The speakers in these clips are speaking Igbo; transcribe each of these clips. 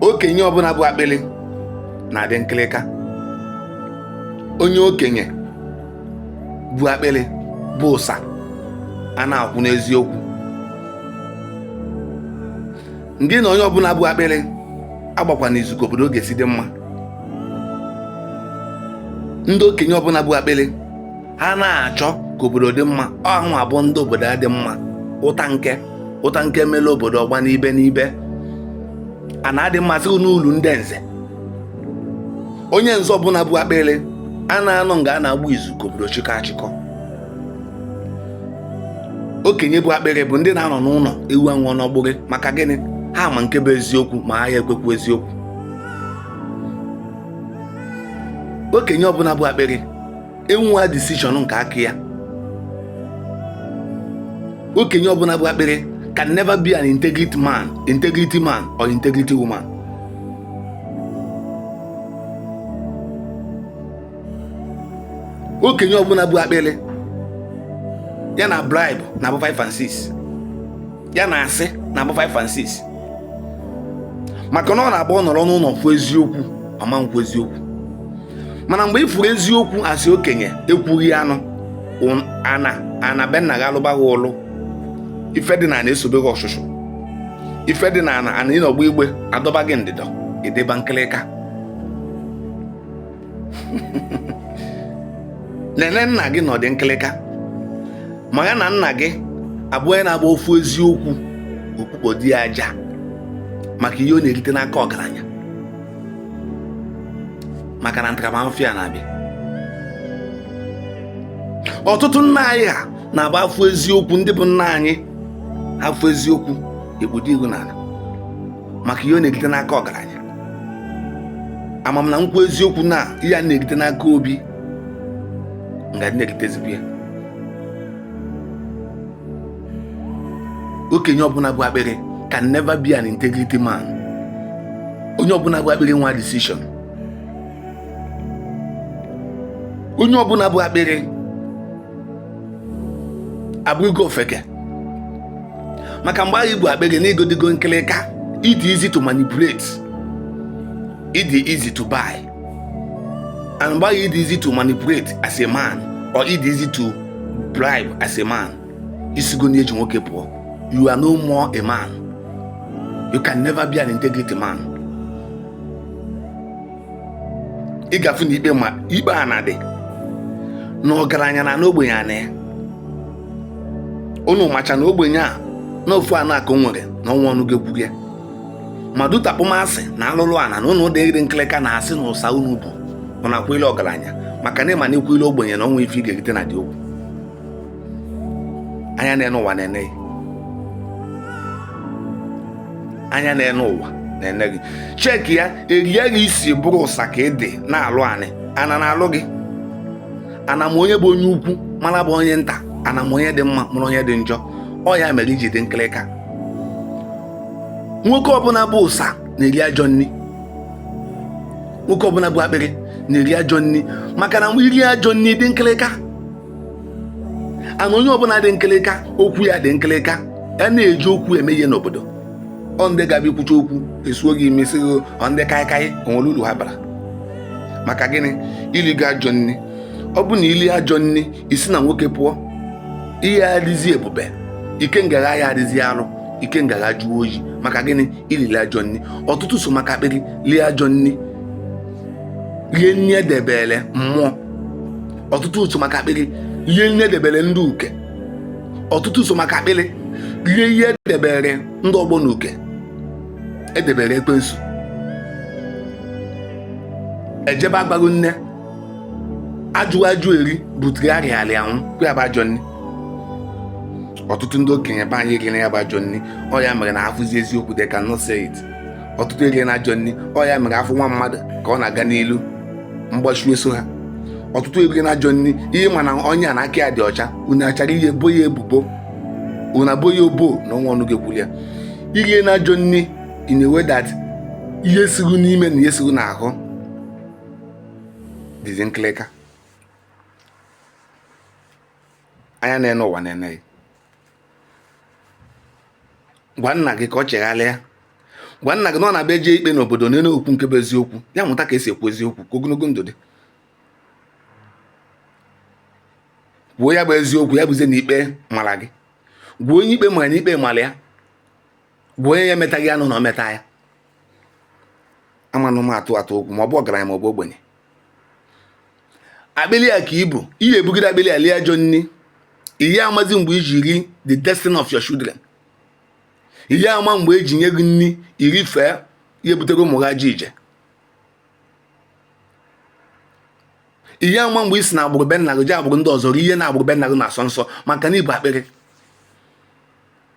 okenye ọbụla bụ akpịlị na-adị nkịlịka onye okenye bụ akpịlị bụ ụsa a na-akwụ n'eziokwu ngị na onye ọbụla bụ akpịlị agbakwana izu ka obodo ga-esi dị mma ndị okenye ọbụla bụ akpịlị ha na-achọ ka obodo dị mma hanwa bụ ndị obodo adị mma ụta nke ụta nke mere obodo ọgba n'ibe n'ibe ana adị mma sị n'ulu ndị nze onye nze ọbụla bụ akpịrị a na-anọ nga a na-agba izu ka obodo chịkọ achịkọ okenye bụ akpịrị bụ ndị na-anọ n'ụlọ ewu anwụọ n'ọgbụrị maka gịnị ha ma nke bụ eziokwu ma ha ya ekwekwu eziokwu okenye ọbụla bụ akpịrị enweghị decision nke aka ya okenye ọbụla bụ akpịrị can never be an integrity man integrity man or integrity woman okenye ọbụla bụ akpịrị ya na bribe na-abụ 5 and 6 ya na asị na-abụ 5 and 6 maka na ọ na-abụ ọ nọrọ n'ụlọ fụ eziokwu ọ ma nkwu eziokwu mana mgbe ị fụrụ eziokwu as okenye ekwughị anụ ana ana be nna gị alụba gị ụlụ ife dị na ana esobe gị ọchụchụ ife dị na ana ana ịnọgba igbe adọba gị ndịdọ ị dịba nkịlịka nene nna gị nọ dị nkịlịka ma ya na nna gị abụ onye na-abụ ọ fụ eziokwu o kpukpodi ya aja maka ihe ọ na-erite n'aka ọgaranya maka na ntaramahụhụ ya na-abịa ọtụtụ nna anyị ha na-abụ a fụ eziokwu ndị bụ nna anyị ha fụ eziokwu e kpudo ihu n'ala maka ihe ọ na-erite n'aka ọgaranya ama m na m kwuo eziokwu na ihe a m na-erite n'aka obi m gadị na-eritezikwa ya okenye ọbụla bụ akpịrị can never be an integrity man onye ọbụla bụ akpịrị enwe decision onye ọbụla bụ akpịrị abụrụgo ofeke maka mgbe ahụ ị bụ akpịrị na ị ghọdịgo nkịlịka ị dị easy to manipulate ị dị easy to buy and mgbe ahụ ị dị easy to manipulate as a man or ị dị easy to bribe as a man i sigo na eji nwoke pụọ you are no more a man you can never be an integrity man ị ga-afụ na ikpe ma ikpe a na-adị na ọgaranya na-ana ogbenye ana ya unu macha na ogbenye a na ofu ana a ka o nwere na o nwe ọnụ ga-ekwu ya ma due to akpọmasị na alụlụ ana na unu dịrị nkịlịka na asị na ụsa unu bụ unu akwụile ọgaranya maka na ịma na ị kwụile ogbenye na o nwe ife ị ga-erite na dị okwu anya na-ene ụwa na-ene gị anya na-ene ụwa na-ene gị cheki ya erie gị isi bụrụ ụsa ka ị dị na-alụ anị ana na-alụ gị ana ma onye bụ onye ukwu mara bụ onye nta ana ma onye dị mma mara onye dị njọ ọ ya mere iji dị nkịlịka nwoke ọbụla bụ ụsa na-eri ajọ nri nwoke ọbụla bụ akpịrị na-eri ajọ nri maka na iri ajọ nri dị nkịlịka and onye ọbụla dị nkịlịka okwu ya dị nkịlịka a na-eji okwu eme ihe n'obodo ọ ndị ga-abụ ikwucha okwu esuo gị imi sị ọ ndị kaịkaị o nwere uru ha bara maka gịnị iligo ajọ nri ọ bụ na ili ajọ nri isi na nwoke pụọ ị ya adịzi ebube ikenga gị ya adịzi arụ ikenga gị ajụọ oyi maka gịnị ilili ajọ nri ọtụtụ so maka akpịrị lie ajọ nri rie nri edebere mmụọ ọtụtụ so maka akpịrị rie nri edebere ndị uke ọtụtụ so maka akpịrị lie ihe edebere ndị ọgbọ na uke edebere ekwensu ejebe agbago nri ajụ ajụ eri butere arịa arịa anwụ kwa ya bụ ajọ nri ọtụtụ ndị okenye be anyị erie na ya bụ ajọ nri ọ ya mere na afụzi eziokwu they cannot say it ọtụtụ erie na ajọ nri ọ ya mere afụ nwa mmadụ ka ọ na-aga n'ilu mgbachu eso ha ọtụtụ erie na ajọ nri ị ya ama na onye a na aka ya dị ọcha unu achọrọ ihe bo ya ebubo unu abo ya obo na o nwe ọnụ ga-ekwuru ya irie na ajọ nri in a way that ihe siru n'ime na ihe siru n'ahụ dịzi nkịlịka anya na-ene ụwa na-ene gị gwa nna gị ka ọ chegharịa gwa nna gị na ọ na-abụ e jee ikpe n'obodo ya na-ekwu nke bụ eziokwu ya mụta ka esi ekwu eziokwu ka ogologo ndụ dị kwuo ya bụ eziokwu ya bụzie na ikpe mara gị gwa onye ikpe mara na ikpe mara ya gwa onye ya emetaghị anụ na o meta ya amanụ m atụ atụ okwu ma ọ bụ ọgaranya ma ọ bụ ogbenye akpịlị ya ka ibu ị ya ebugide akpịlị ya lie ajọ nri ị ya amazi mgbe iji ri the destiny of your children ị ya ama mgbe eji nye gị nri iri fee ihe butere ụmụ gị ajọ ije ị ya ama mgbe isi na agbụrụ be nna gị je agbụrụ ndị ọzọ rie ihe na agbụrụ be nna gị na-asọ nsọ maka na ibu akpịrị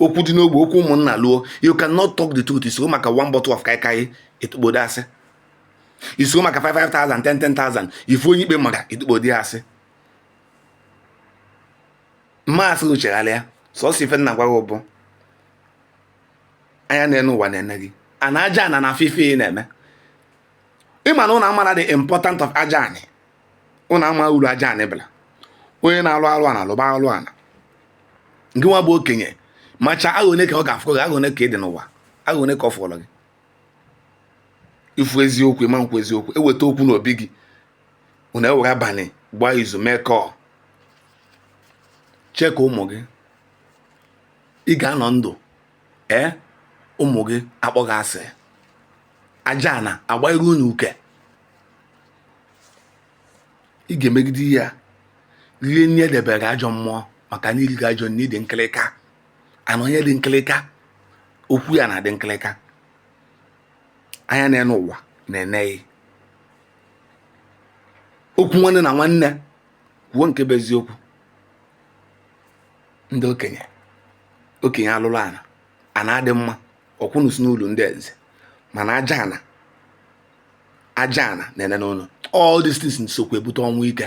okwu dị n'ogbe okwu ụmụnna luo you cannot talk the truth isoro maka one bottle of kaikai itukpodo asị isoro maka 5,000 10,000 ifu onye ikpe mara itukpodo asị m ma sị gị chegharịa sọsọ ife m na-agwa gị bụ anya na-ene ụwa na-ene gị and aja ana na-afụ ife ị na-eme ịma na ụnụ amara the important of aja anị ụnụ ama uru aja anị bara onye na-alụ alụ ana lụba alụ ana nke nwa bụ okenye macha aghọ one ka ọ ga-afọ gị aghọ one ka ị dị n'ụwa aghọ one ka ọ fọrọ gị ifu eziokwu ịma ekwu eziokwu eweta okwu n'obi gị ụnụ ewere abalị gbaa izu mee kọọ chee ka ụmụ gị ị ga-anọ ndụ ee ụmụ gị akpọ gị asị aja ana agbaghị unu uke ị ga-emegide ya rie nri edebere ajọ mmụọ maka na iriri ajọ nri dị nkịlịka and onye dị nkịlịka okwu ya na-adị nkịlịka anya na-ene ụwa na-ene gị okwu nwanne na nwanne kwuo nke bụ eziokwu ndị okenye okenye alụrụ ana ana adị mma ọkwa ụnụ sị n'uru ndị eze mana aja ana aja ana na-ene ụnụ all these things sokwa ebute ọnwụ ike